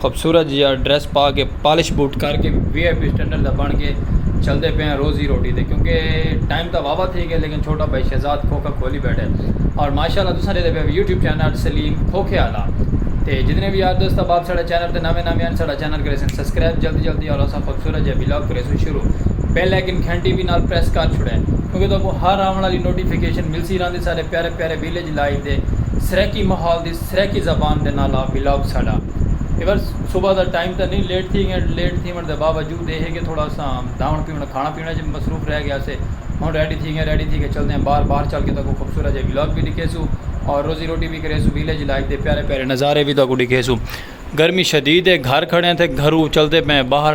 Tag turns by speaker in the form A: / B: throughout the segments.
A: خوبصورت جیا ڈریس پا کے پالش بوٹ کر کے وی آئی پی اسٹینڈرڈ دا بن کے چلتے پے ہیں روزی روٹی دے کیونکہ ٹائم تا واوا تھی گئے لیکن چھوٹا بھائی شہزاد کھوکھا کھولی بیٹھے اور ماشاء اللہ تساں دے پے یوٹیوب چینل سلیم کھوکھے والا تے جتنے بھی یار دوست احباب ساڑا چینل تے نویں نویں ہیں ساڑا چینل کرے سن سبسکرائب جلدی جلدی اور اسا خوبصورت جے ویلاگ کرے سن شروع بیل آئیکن گھنٹی بھی نال پریس کر چھڑے کیونکہ تو کو ہر آون والی نوٹیفیکیشن ملسی راندی سارے پیارے پیارے ویلیج لائف دے سرائیکی ماحول دی سرائیکی زبان دے نال آ ولاگ ساڈا اے ول صبح دا ٹائم تاں نی لیٹ تھی گئے لیٹ تھیون دے باوجود اے ہے کہ تھوڑا اساں دھاون پیون کھانا پینا اچ مصروف رہ گیا سے ہن ریڈی تھی گئے ریڈی تھی کے چلدے آں باہر باہر چل کے تہاکوں خوبصورت جیہا ولاگ وی ڈکھیسوں اور روزی روٹی وی کریسوں ویلیج لائف دے پیارے پیارے نظارے وی تہاکوں ڈکھیسوں گرمی شدید اے گھر کھڑے آں تھے گھرو چلدے پئے آں باہر۔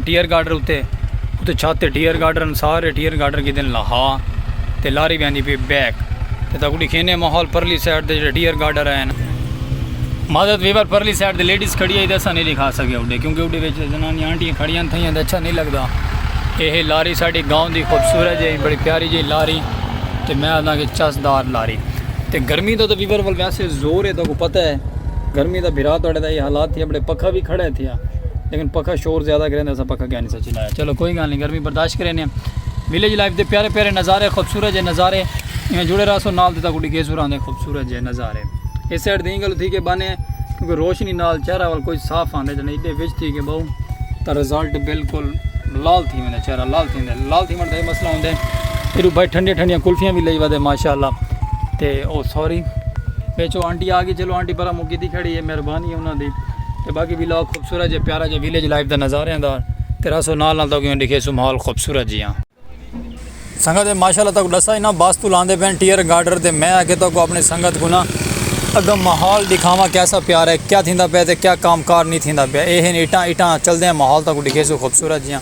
A: ڈیئر گارڈر اتے اتے چھت تے ڈیئر گارڈر ہن سارے ڈیئر گارڈر گھدن لہا تے لاری ویندی پی بیک تے تاکو ڈکھینے ماحول پرلی سائیڈ دے جڑے ڈیئر گارڈر ہن معذرت ویور پرلی سائیڈ دے لیڈیز کھڑی ہے تے اسا نہیں لکھا سکے اڈے کیونکہ اڈے وچ زنانی آنٹی کھڑی ہیں تھیاں تے اچھا نہیں لگدا اے ہے لاری ساڈی گاؤں دی خوبصورت جی بڑی پیاری جی لاری تے میں آدھا کہ چس دار لاری تے گرمی دا تو ویور ول ویسے زور ہے تاکو پتہ ہے گرمی دا بھرا تڑے دا یہ حالات تھیا بڑے پکھا بھی کھڑا ہے تھیا لیکن پکھا شور زیادہ کریں اسا پکھا کیا نہیں سچی لایا چلو کوئی گل نہیں گرمی برداشت کریں ویلیج لائف دے پیارے پیارے نظارے خوبصورت جے نظارے میں جڑے رہا سو نال دیتا کوڑی گیس ہوراں دے خوبصورت جے نظارے اس سائڈ دیں گل تھی کہ بانے کیونکہ روشنی نال چہرہ وال کوئی صاف آندے جنے ایڈے وچ تھی کہ بہو تا رزلٹ بالکل لال تھی میں چہرہ لال تھی میں لال تھی میں دے مسئلہ ہوندے ایڈو بھائی ٹھنڈی ٹھنڈی کلفیاں بھی لئی ودے ماشاءاللہ تے او سوری بیچو آنٹی آگی چلو آنٹی برا مکی دی کھڑی ہے مہربانی انہاں دی تے باقی ویلاگ خوبصورت جے پیارا جے ویلیج لائف دا نظارے آندا تے راسو نال نال تاکہ ڈیکھے سو ماحول خوبصورت جی ہاں سنگت ہے ماشاءاللہ تاکہ ڈسا اینا باس تو لاندے پین ٹیئر گارڈر تے میں آکے تاکہ اپنے سنگت کو نا اگا ماحول دکھاوا کیسا پیار ہے کیا تھیندا پے تے کیا کام کار نہیں تھیندا پے اے ہیں ایٹاں ایٹاں چل دے ہیں ماحول تاکہ ڈیکھے سو خوبصورت جی ہاں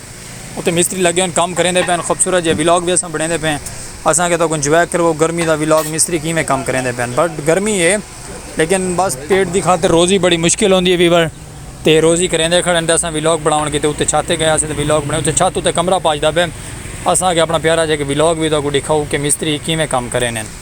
A: اتے مستری لگے ہن کم کریندے پئے ہن خوبصورت جیہا ولاگ وی اساں بنڑیندے پئے ہن اساں کے تہاکوں انجوائے کرو گرمی دا ولاگ مستری کیویں کم کریندے پئے ہن بٹ گرمی ہے لیکن بس پیٹ دی خاطر روزی بڑی مشکل ہوندی ہے ویور تے روزی کریندے کھڑے ہن تے اساں ولاگ بنڑاون کیتے اتے چھت تے گئے ہاسے تے ولاگ بنڑایا اتے چھت اتے کمرہ پاجدا پئے اساں کے اپنا پیارا جیہا ولاگ وی تہاکوں ڈکھاؤ کے مستری کیویں کم کریندے ہن۔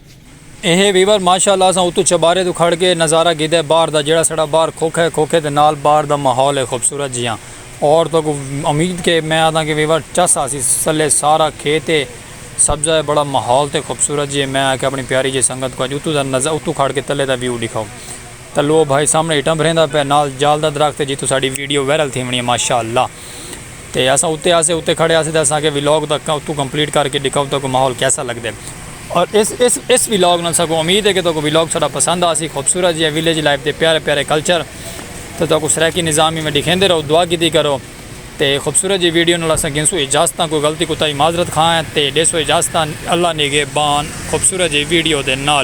B: اہے
A: ویور ماشاء اللہ اساں اتوں چبارے توں کھڑ کے نظارہ گھیدے باہر دا جیڑھا ساڑا باہر کھوکھا ہے کھوکھے دے نال باہر دا ماحول ہے خوبصورت جیہاں اور تہاکوں امید کے میں آہداں کے ویور چس آسی سلے سارا کھیت ہے سبزہ ہے بڑا ماحول تے خوبصورت جیہے میں آکھیا اپنی پیاری جیہی سنگت کوں اج اتوں دا نظ اتوں کھڑ کے تلے دا ویو ڈکھاؤ تلو او بھائی سامنے اٹاں بھریندا پیا نال جال دا درخت ہے جتوں ساڑی ویڈیو وائرل تھیونڑی ہے ماشاء اللہ. تے اساں اتے آسے اتے کھڑے آسے تے اساں کے ولاگ دا اتھوں کمپلیٹ کر کے ڈکھاؤ تاکہ ماحول کیسا لگ دے اور اس اس اس ولاگ نال ساکو امید ہے کہ تاکو ولاگ ساڈا پسند آسی خوبصورت جی ویلیج لائف دے پیارے پیارے کلچر تے تاکو سرائیکی نظام میں ڈکھیندے رہو دعا کیتی کرو تے خوبصورت جی ویڈیو نال اساں گنسو اجازتاں کوئی غلطی کوتاہی معذرت خواہ ہیں تے ڈیسو اجازتاں اللہ نگہبان خوبصورت جی ویڈیو دے نال